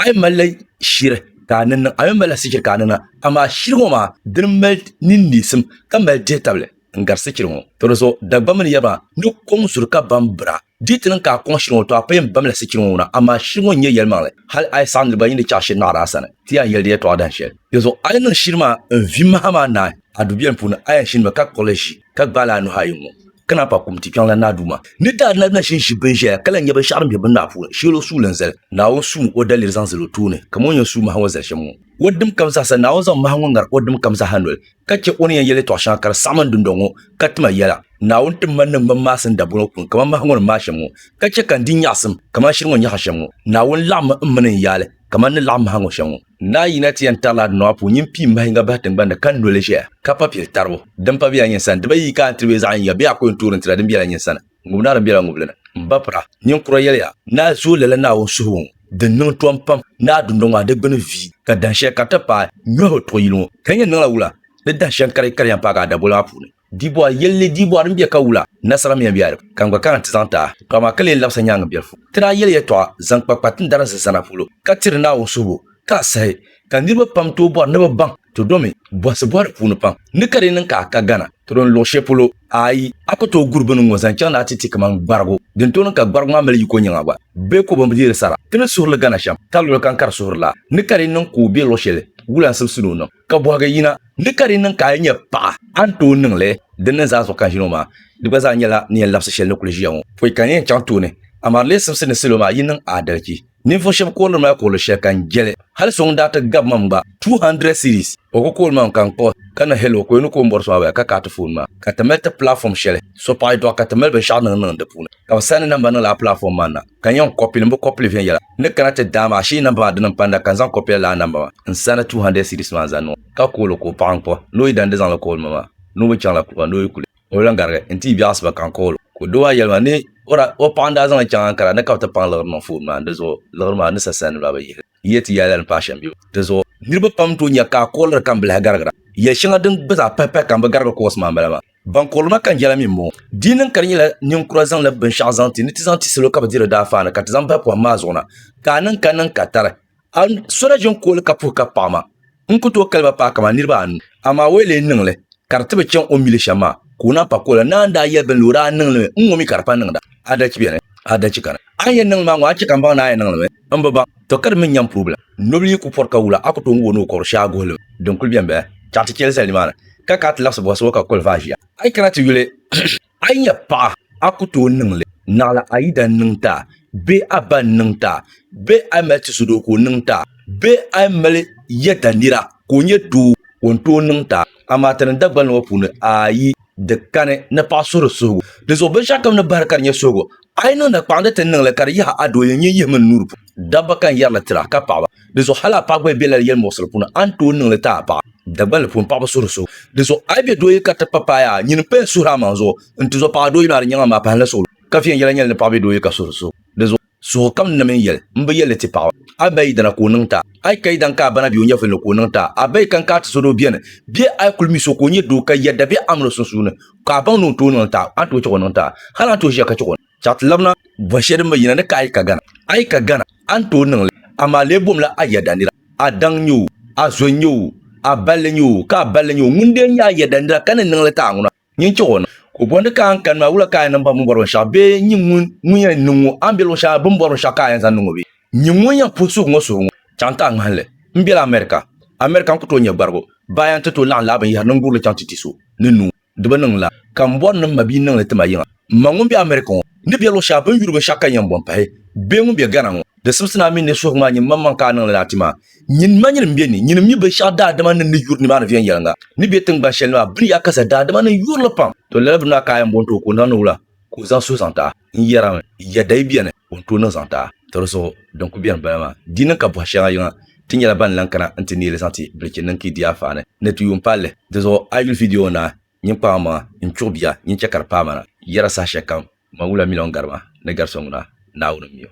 a yi malila shiri ka a ni niŋ a yi malila sichiri ka a ni niŋ amaa shiri ŋɔ maa dini mali nini neesim ka mali dihi tabili n gari sichiri ŋɔ to di zuɣu Dagbamba mini yaba ni kɔŋ zuri ka bam bira di ti niŋ ka a kɔŋ shiri ŋɔ to a pa yɛn bamla sichiri ŋɔ wuna amaa shiri ŋɔ n nyɛ yɛlimaŋli hali a yi saɣim niriba yi ni chaɣi shiri naɣiri a sani ti yɛn yɛli di yɛtɔɣa dahin shɛli di zuɣu a yi niŋ shiri maa n vi maha maa naai a dubiɛlim puuni a yɛn shinimi ka kpuɣili ʒi ka gbaali a nuhi ayi ŋɔ ka naan pa kum ti kpiɔŋ la Naa Duuma ni daa na nachin ʒi bin ʒɛya ka lahi nyɛ binshɛɣu din be bin naa puuni shɛl o suuli n zali Naawuni suum o daliri zaŋ zali o tooni kaman o ni yɛn suui mahi ŋɔ zali shɛm ŋɔ. O dim kam zaa sa, Naawuni zaŋ mahi ŋɔ ŋari o dim kam zaa ha noli, ka chɛ o ni yɛn yɛl yɛtɔɣ shɛŋa ka di saɣim n dundɔŋ ŋɔ, ka tima yɛla. Naawuni tim ma ni n mini Masin dabol ŋɔ puuni kaman mahi ŋɔ ni maai shɛm ŋɔ, ka chɛ ka n di nyaɣisim kaman shiri ŋɔ ni nyaɣi shɛm ŋɔ. Naawuni laɣim mi m mini n yaali kaman ni laɣim mahi ŋɔ shɛm ŋɔ. Naa Yina ti yɛn tarila Adinɔa puu nyin pii mahinga bahi tiŋgbani ni ka noli ʒɛya, ka pa pili taribu. Din pa bela nyin sani, diba yi yi ka a ni tiri bee zaɣ yiŋga bee a ko yɛn toori n-tira din bela nyin sani, ŋub naa din bela ŋubili ni. M ba pira, nyin kura yɛliya, Naa zuo lala Naawuni suhibu ŋɔ, di niŋ tɔm pam. Naa dundɔŋ maa di gbuni viyi, ka dahin shɛli ka di ti paai nyɔhibu tuɣi yili ŋɔ. Ka yi yɛn niŋla wula ni dahin shɛŋ kari yi kari yɛn paagi a daboli maa puuni? Dibɔr yɛlli Dibɔr n bɛ ka wula nasara miya bɛ aliba ka n gba kana ti zaŋ ti a tɔɣa maa ka lee labisa nyaaŋa biɛri fu ti daa yɛli yɛtɔɣa zaŋ kpa kpa tindarin zi zana polo ka tiri Naawuni suhibu ka a sahi ka niriba pam tooi bɔri ni bɛ baŋ ti domi bɔhisi bɔhiri puuni pam ni ka di niŋ ka a ka Ghana ti doni luɣi shɛli polo ayi a ku tooi guri bini ŋɔ zaŋ chaŋ ni a ti ti kaman gbarigu din tooi niŋ ka gbarigu maa mali yiko nyaŋa gba bee ko bɛn bi deeri sara ti ni suhiri li Ghana shɛm ka luɣi kam ka di suhiri la ni ka di niŋ ka o bɛ luɣi shɛli wula n sibisi ni o niŋ ka bɔhigi yina ni ka di niŋ ka a yi nyɛ paɣa, a ni tooi niŋ li din niŋ zaa zuɣu ka n ʒini ŋɔ maa. Di gba zaa nyɛla ni yɛn labisi shɛli ni kuli ʒiya ŋɔ. Pɔi ka n yɛn chaŋ tooni, amaa di lee simsi ni salo maa yi niŋ aadalichi. Ninvuɣ shɛb koorili ma koorili shɛli ka n jɛli. Hal so ŋun daa ti gab mam gba, 200 cedis, o ku kool mam ka n kpuɣi ka ni hello ka o ni ku o m bɔri so maa baya ka ka a ti foon maa ka ti mali ti platform shɛli. So paɣ yi dɔɣi ka ti mali binshɛɣu niŋ niŋ di puuni ka bɛ saani namba niŋ lala platform maa na. ka n yɛn kɔpili, n bi kɔpili viɛnyɛla. N ni kana ti daa maa ashee namba maa dini m-pa n-daa ka n zaŋ kɔpila lala namba maa n-sa ni 200 cedis maa n-zaŋ niŋ o ka kool o ka o paɣi n-kpuɣi ni o yi dandi zaŋli kool ma maa ni o mi chaŋla kuɣa ni o yi kuli o lan garigi n-ti yi biɛɣ asiba ka n kool o ka o doo maa yɛli ma ni o daa o paɣa n-daa zaŋli chaŋ Ankara ni ka bɛ ti paŋ liɣiri niŋ foon maa ni di zuɣu liɣiri maa ni sa sani maa bɛ yihili n yɛli ti yɛla ni pa ashɛm bibu di zuɣu niriba pam n-tooi nya ka a kooliri ka m bi lahi garigira yɛl shɛŋa din gba zaa pahipahi ka m bi garigi koos maa m-bala maa. Ban kɔrili ma ka n yɛla mi m-bɔŋɔ, di yi niŋ ka di nyɛla ninkura zaŋla binshɛɣu zaŋ ti ni ti zaŋ ti salo ka bɛ diri daafaani ka ti zaŋ bahi pɔhim maa zuɣu na, ka a niŋ ka niŋ ka tari a sɔna ʒini kooli ka puhi ka paɣi ma, n ku tooi kali ba paai kaman niriba anu, amaa o yi lee niŋ li ka di ti bi chaŋ o ni mi li shɛm maa, ka o naan pa kooli la, naan daa yɛli bɛ ni o daa niŋ li mi, n ŋɔ mi ka di pa niŋda. Adalci beni, adalci kani. A ni yɛn niŋ li maa ŋɔ, a ni chɛ ka m baŋ ni a yɛn niŋ li mi? M bi ba, to ka di mi n-nyɛ m purbila. Nobili yi ku pɔri ka wula, a ku tooi gu o ni o kɔbiri shee a guhili din kuli bɛn bɛhi chaɣ ti chɛli zali nimaani ka ka a ti labisi bɔhisi o ka kuli vaai ʒiya. A yi kana ti yuli a yi nya paɣa, a ku tooi niŋ li naɣila a yidana niŋ ti a bee a ba n-niŋ ti a bee a yi mali tisidoo ka o niŋ ti a bee a yi mali yɛda nira ka o nyɛ doo o ni tooi niŋ ti a. Amaa ti ni Dagbani ŋɔ puuni, ayi, di kani ni paɣa suhiri suhigu. Dinzuɣu binshɛɣukam ni bahiri ka di nyɛ suhigu, A yi niŋ na kpaŋdi ti ni niŋ li ka di yihi a dooya nyɛ yihi mini nuuri puuni. Dabba ka n yɛri li ti a, ka paɣaba. Dinzuɣu hal a paɣa gba yi be lala yɛlimuɣisili puuni, a ni tooi niŋ li ti a paɣa. Dagbaŋ li puuni, paɣaba suhiri suhibu. Dinzuɣu a yi be dooya ka ti pa paai a, nyini paya suhir amaŋ zuɣu. N-tizo, paɣa dooyino a ni nyaŋ a maa pahinla suɣulo, ka viɛnyɛla nyɛli ni paɣa be dooya ka suhiri suhibu. Dinzuɣu suhigu kam ni na mini yɛli, m bi yɛli li ti paɣaba. A ba yi dana ka o niŋ ti a, a yi ka yi daŋ ka a bana bɛ o nyɛvili ni ka o niŋ ti a. A ba yi kaŋ ka a tizo ni o beni, bee a yi kul mi so ka o nyɛ doo ka yɛda bee amina o sunsuuni, ka a baŋ ni o tooi niŋ taai a ni tooi chɛ ka o niŋ taai hal a ni tooi ʒiya ka chɛ ka o chaɣ ti labina bɔn shɛli din bi yina ni ka a yi ka Gana. A yi ka Gana, a ni tooi niŋ li, amaa lee bomla a yɛda nira, a daŋ n-nyɛ o, a zo n-nyɛ o, a balli n-nyɛ o, ka a balli n-nyɛ o. Ŋun dee nyɛ a yɛda nira ka ni niŋ li taai ŋuna, nyin chɛ ka o niŋ. Ka o bɔndi ka a ni kani maa, wula ka a yɛn niŋ baŋ bɛ ni bɔri binshɛɣu bee nyin ŋun yɛn niŋ o? A ni be luɣ shɛli a ni bɛ ni bɔri binshɛɣu ka a yɛn zaŋ niŋ o bee? Nyini ŋun yɛn puhi suhu ŋɔ suhu ŋɔ chaŋ ti a ŋmahinli. M bela America. America n ku tooi nyɛ gbarigu. Baaya n ti tooi laɣim lahi binyɛhiri ni n gurili chaŋ ti ti so ni nuu di bi niŋ la, ka m bɔri ni m ma bia niŋ li ti ma yiŋa. M ma ŋun be America ŋɔ ni be luɣ shɛli binyuri binshɛɣu ka yɛn bɔn pahi bee ŋun be Ghana ŋɔ, di simsi ni a mi ni suhigu maa nyin maŋmaŋ ka a niŋ li daa ti ma. Nyin ma nyini m-be ni, nyini m-mi binshɛɣu daadama ni ni yuri nimaani viɛnyɛliŋga ni be tiŋgban shɛli ni maa bini yaakaza daadama ni n yuri li pam. To lala bini maa ka a yɛn bɔn ti o ka o niŋ ni wula ka o zaŋ suhu zaŋ ti a? n yɛrimi yɛda yi bɛni o ni tooi niŋ zaŋ taai ti di zuɣu din ku bɛni bala maa di niŋ ka buhi shɛŋa yiŋa ti nyɛla ban lan kana n ti neeli zaŋ ti bilichi niŋ ka yi di afaani ni ti yuun palli di zuɣu a yuli vidiyo naa nyin kpaɣi maŋa n chuɣi bia nyin chɛ ka di paai ma na yɛra saha shɛlikam ma wula miliɔn gari ma ni gari so ŋuna Naawuni m-mi o.